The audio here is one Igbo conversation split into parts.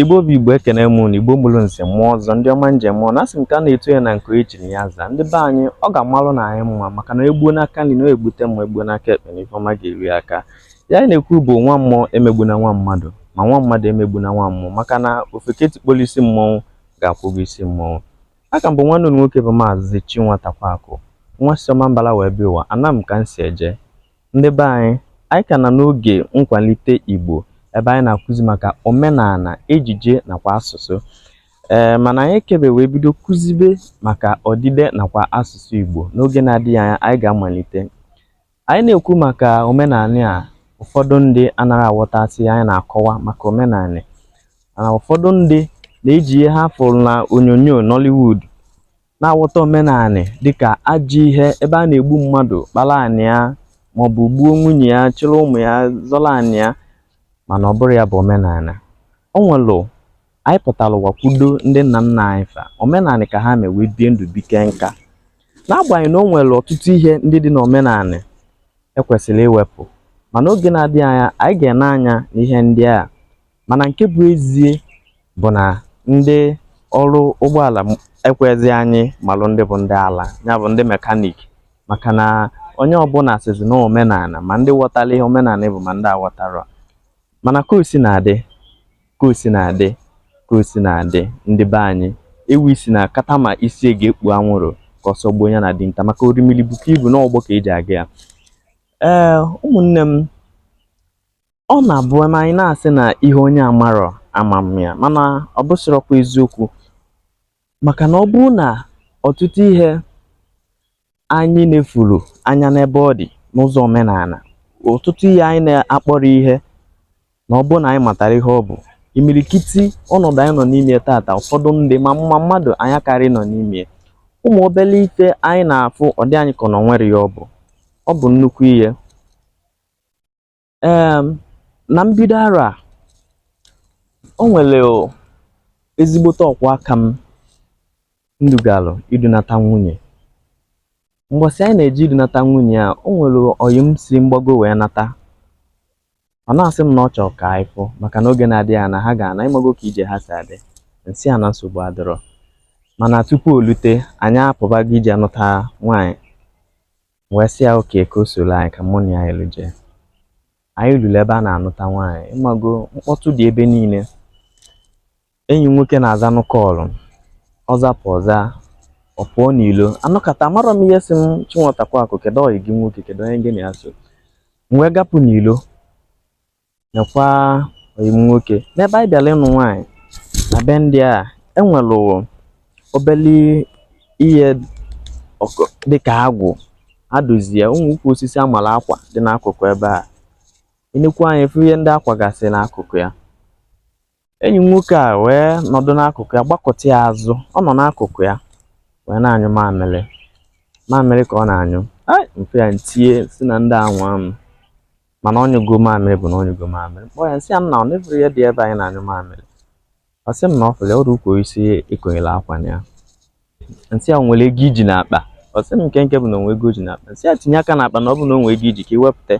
Igbo bụ Igbo ekene m unu Igbo mụrụ nze mụọ ọzọ ndị ọma njem mụọ na asị nke a na-etu ya na nke e chiri ya zaa ndị be anyị ọ ga-amalụ na anyị mma maka na egbuo n'aka nri na-egbute mma egbuo n'aka ekpe na ifeọma ga-eri aka ya anyị na-ekwu bụ nwa mmụọ emegbuna nwa mmadụ ma nwa mmadụ emegbuna nwa mmụọ maka na ofeke tikpolu isi mmọnwụ ga-akwụ ụgwọ isi mmọnwụ aka m bụ nwanne unu nwoke bụ maazị Chinwatakwaakụ nwa si Ọmambala wee bịa ụwa ana m ka m si eje Ndị be anyị, anyị ka nọ n'oge nkwalite Igbo ebe anyị na-akụzi maka omenala, ejije nakwa asụsụ. Ee, mana anyị kebe wee bido kụzibe maka odide nakwa asụsụ Igbo. N'oge na-adịghị anya, anyị ga-amalite. Anyị na-ekwu maka omenala a, ụfọdụ ndị anaghị aghọtasị ihe anyị na-akọwa maka omenala. Mana ụfọdụ ndị na-eji ihe ha fụrụ na onyonyo Nollywood na-aghọta omenanị dịka ajọ ihe ebe a na-egbu mmadụ kpara anị ya maọbụ gbuo nwunye ya chịrị ụmụ ya zọrọ anị ya mana ọ bụrọ ya bụ omenala o nwelụ anyị pụtara ụwa kwudo ndị nna nna anyị fa omenanị ka ha mewe bie ndụ bike nka n'agbanyeghị na o nwere ọtụtụ ihe ndị dị n'omenanị e kwesịrị iwepụ mana oge na-adịghị anya anyị ga-ene anya n'ihe ndị a mana nke bụ ezie bụ na ndị ọrụ ụgbọala ekwezi anyị malụ ndị bụ ndị ala ya bụ ndị mekanik maka na onye ọbụla sịzi na omenala ma ndị ghọtara ihe omenala bụ ma ndị aghọtarọ mana ka o sina dị ka o sina dị ka o sina dị ndị be anyị ewi sị na kama isi ya ga-ekpu anwụrụ ka ọsọ gbuo ya na dinta maka orimiri bukwa ibu n'ụgbọ ka e ji aga ya ee ụmụnne m ọ na-abụ na anyị na-asị na ihe onye amarọ ama ama ya mana ọ bụsịrọkwa eziokwu maka na ọ bụrụ na ọtụtụ ihe anyị nefuru anya n'ebe ọ dị n'ụzọ omenala ọtụtụ ihe anyị na-akpọrọ ihe na ọ bụrụ na anyị matara ihe ọ bụ imirikiti ọnọdụ anyị nọ n'ime tata ụfọdụ ndị ma mma mmadụ anyị akarị nọ n'ime ụmụ obele ife anyị na-afụ ọ dị anyị ka na o nwerọ ihe ọ bụ ọ bụ nnukwu ihe um na mbido arọ a o nwere ezigbote ọkwa aka m m dugalụ idunata nwunye mgbọsị anyị na-eje idunata nwunye a o nwere ọyị m si mgbago wee nata ọ na-asị m na ọ chọrọ ka anyị fụ maka na oge na-adịghị anya ha ga-ana ịmago ka ije ha si adị m sị a na nsogbu adịrọ mana tupu o lute anyị apụbago ije anụta nwaanyị M wee sị ya okay ka o soro anyị ka mụ na ya yilu jee anyị luru ebe a na-anụta nwaanyị ịmago mkpọtụ dị ebe niile enyi m nwoke na-azanụ call ọ zapụ ọ za ọ pụọ n'ilo a nọkata amarọ m ihe sị m Chinwatakwaakụ kedu ọyị gị nwoke kedu onye gị na ya so m wee gapụ n'ilo nekwa ọyị m nwoke n'ebe anyị bịara ịnụ nwaanyị na be ndị a e nwere obele ihe dịka agwụ a dozie o nwe ukwu osisi a mara akwa dị n'akụkụ ebe a i nekwu anya ị fụ ihe ndị a kwagasị n'akụkụ ya enyi m nwoke a wee nọdụ n'akụkụ ya gbakụta ya azụ ọ nọ n'akụkụ ya wee na-anyụ mamịrị mamịrị ka ọ na-anyụ ya m fụ ya m tie sị na ndị anwa m mana ọ nyụgo mamịrị bụ na ọ nyụgo mamịrị m kpọọ ya m sị ya nna ọ na ị fụrọ ihe dị ebe a ị na-anyụ mamịrị ọ sị m na ọ fụrụ ọrụ ukwu osisi e konyere akwa na ya m sị ya i nwere ego i ji n'akpa ọ sị m nke nke bụ na o nwe ego o ji n'akpa m sị ya tinye aka n'akpa na ọ bụ na o nwe ego i ji ka i wepụta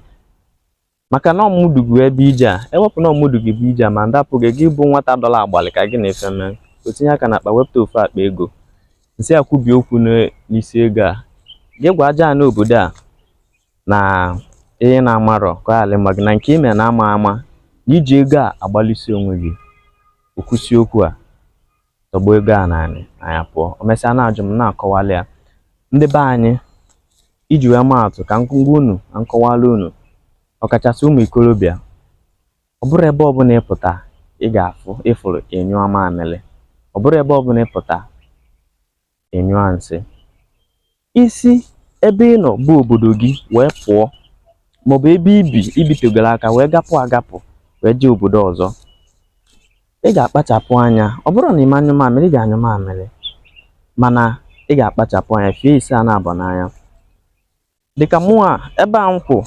maka na ọ mụ du gị bịa ije a e wepụ na ọ mụ du gị bịa ije a ma m rapụ gị gị bụ nwata dọla agbalị ka gị na ife mee o tinye aka n'akpa wepụta ofu akpa ego m sị ya kwubie okwu n- n'isi ego a gị gwa aja ana obodo a na ihe na-amarọ ka ala ma gị na nke i me na ama ama na i ji ego a agbara isi onwe gị o kwusịa okwu a tọgbọ ego a n'ana anyị apụọ o mesịa na-ajụ m na-akọwala ya ndị be anyị iji wee maa atụ ka m gwa unu na m kọwala unu ọkachasị ụmụ ikorobịa ọ bụrọ ebe ọbụla ị pụta ị ga-afụ ị fụrụ ị nyụọ mamịrị ọ bụrọ ebe ọbụla ị pụta ị nyụa nsị i si ebe ị nọ bụ obodo gị wee pụọ maọbụ ebe i bi i bitegoro aka wee gapụ agapụ wee jee obodo ọzọ ị ga-akpachapụ anya ọ bụrọ na ị ma anyụ mamịrị ị ga-anyụ mamịrị mana ị ga-akpachapụ anya fee isi ya naabọ anya dịka mụwa ebe a m kwụ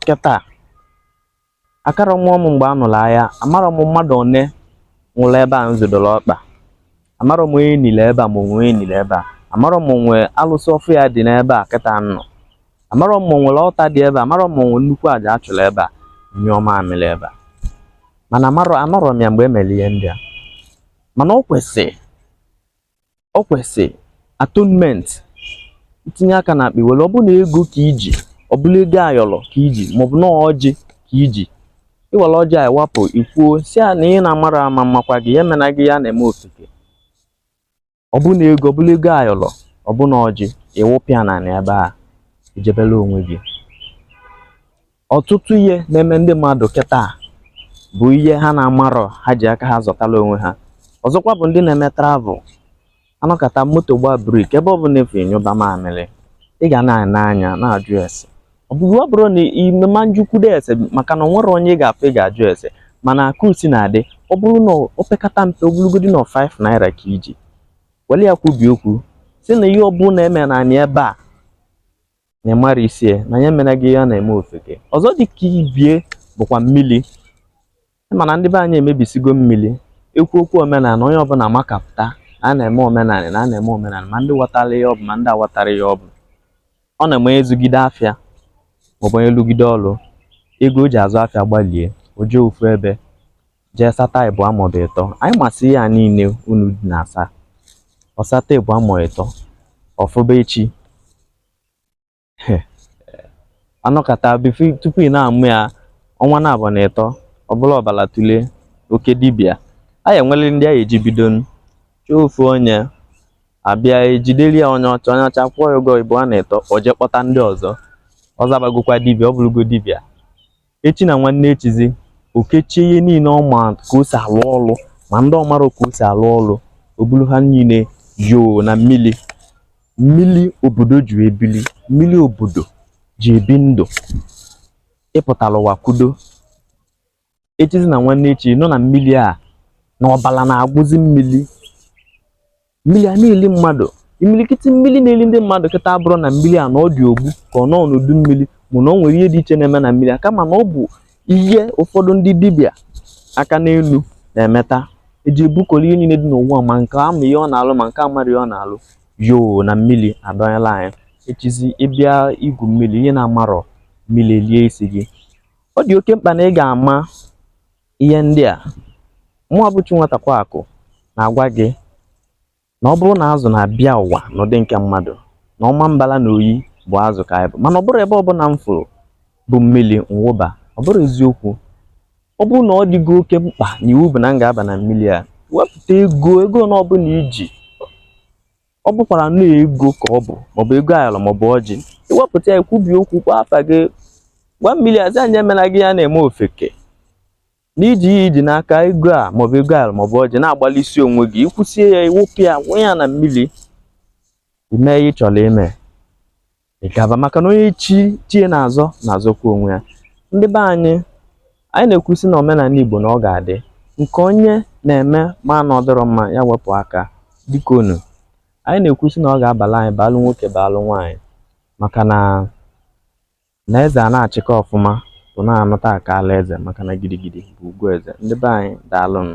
kịta akarọ amụ m mgbe a nụrụ agha amarọ m mmadụ one nwụrụ ebe a m zodoro ọkpa amarọ m onye e niri ebe a ma o nwe onye e niri ebe a amarọ m o nwe alụsị ọfịa dị n'ebe a kịta m nọ amarọ m o nwere altar dị ebe a amarọ m o nwe nnukwu aja a chụrụ ebe a nyụọ mamịrị ebe a mana amarọ anọrọ m ya mgbe e mere ihe ndị a mana o kwesịrị o kwesị atonement i tinye aka n'akpa i were ọ bụrụ na ego ka i ji ọ bụrụ ego ayọrọ ka i ji maọbụ na ọjị ka i ji i were ọjị a wapụ i kwuo sị ya na ihe ị na-amarọ ama makwa gị ya emena gị ya na-eme ofeke ọ bụrụ na ego ọ bụrụ ego ayọrọ ọ bụrụ na ọjị ị wụpịa n'ana ebe a i jebere onwe gị ọtụtụ ihe na-eme ndị mmadụ kịta bụ ihe ha na-amarọ ha ji aka ha zụtala onwe ha ọzọkwa bụ ndị na-eme travel a nọkata moto gbaa brake ebe ọ bụla ị fụ ị nyụba mamịrị ị ga na-ene anya na-ajụ ese ọ bụghị ọ bụrụ na ime ma njukwudo ese maka na o nwerọ onye ị ga-afụ ị ga-ajụ ese mana akụ si na-adị ọ bụrụ na o pekata mpe ọ bụrụgodi na 5 naira ka i ji were ya kwubi okwu sị na ihe ọ bụla e me n'ana ebe a na ịmara isi ya na ya mere gị ya na-eme ofeke ọzọ dị ka ibie bụkwa mmiri mana ndị be anyị emebisigo mmiri ekwu okwu omenala onye ọbụla makapụta na a na-eme omenala na a na-eme omenala ma ndị ghọtara ihe ọ bụ ma ndị aghọtarọ ihe ọ bụ ọ na-eme a zụgide afịa maọbụ onye lụgide ọrụ ego o ji azụ afịa gbalie o jee ofu ebe jee sata ịbụa maọbụ ịtọ anyị masị ya niile unu dị na-asa ọ sata ịbụa maọbụ ịtọ ọfụba echi anọkata before tupu ị na-amụ ya ọnwa naabọ na ịtọ ọ bụrụ ọbala tụle oke dibịa anyị enwere ndị anyị eji bido chọọ ofu onye a bịa ejideli ya onye ọcha onye ọcha kwụọ ya ụgwọ ịbụa na ịtọ o jee kpọta ndị ọzọ ọ zabagokwa dibịa ọ bụrụgo dibịa echi na nwanne echizi o kechie ihe niile ọ ma ka o si alụ ọlụ ma ndị ọ marọ ka o si alụ ọlụ o bulu ha niile yoo na mmiri mmiri obodo ji ebili mmiri obodo ji ebi ndụ ị pụtara ụwa kwudo echizi na nwanne echi ị nụ na mmiri a na ọbala na-agwụzi mmiri mmiri a na-eli mmadụ imilikiti mmiri na-eli ndị mmadụ kịta abụrọ na mmiri a na ọ dị ogbu ka ọ nọ n'udu mmiri maọbụ na o nwere ihe dị iche na-eme na mmiri a kama na ọ bụ ihe ụfọdụ ndị dibịa aka n'elu na-emeta eji ebukọrọ ihe niile dị n'ụwa ma nke ama ihe ọ na-alụ ma nke amarọ ihe ọ na-alụ yoo na mmiri adọnyela anyị echizi ị bịa igwu mmiri ihe na-amarọ mmiri lie isi gị ọ dị oke mkpa na ị ga-ama ihe ndị a mụwa bụ chi nwatakwa akụ na-agwa gị na ọ bụrụ na azụ na-abịa ụwa n'ụdị nke mmadụ na Ọmambala na Oyi bụ azụ ka anyị bụ mana ọ bụrụ ebe ọbụla m fụrụ bụ mmiri m wụba ọ bụrụ eziokwu ọ bụrụ na ọ dịgo oke mkpa na iwu bụ na m ga-aba na mmiri a wepụta ego ego na ọbụla i ji ọ bụkwara na ego ka ọ bụ maọbụ ego ayọrọ maọbụ ọjị i wepụta ya kwubi okwu kpọọ afa gị gwa mmiri azi anyị emela gị ya na-eme ofeke na i ji ihe i ji n'aka ego a maọbụ ego ayọrọ maọbụ ọjị na-agbalụ isi onwe gị i kwusie ya ị wụpụ ya wụnye ya na mmiri i mee ihe ị chọrọ ime ị gaba maka na onye chi ya na-azọ na-azọkwa onwe ya ndị be anyị anyị na-ekwusi na omenala Igbo na ọ ga-adị nke onye na-eme ma na ọ dịrọ mma ya wepụ aka dịka unu anyị na-ekwusi na ọ ga-abala anyị baalụ nwoke baalụ nwaanyị maka na na eze a na-achịkọ ọfụma bụ na-anụta aka ala eze maka na gidigidi bụ ugwu eze ndị be anyị daalụnụ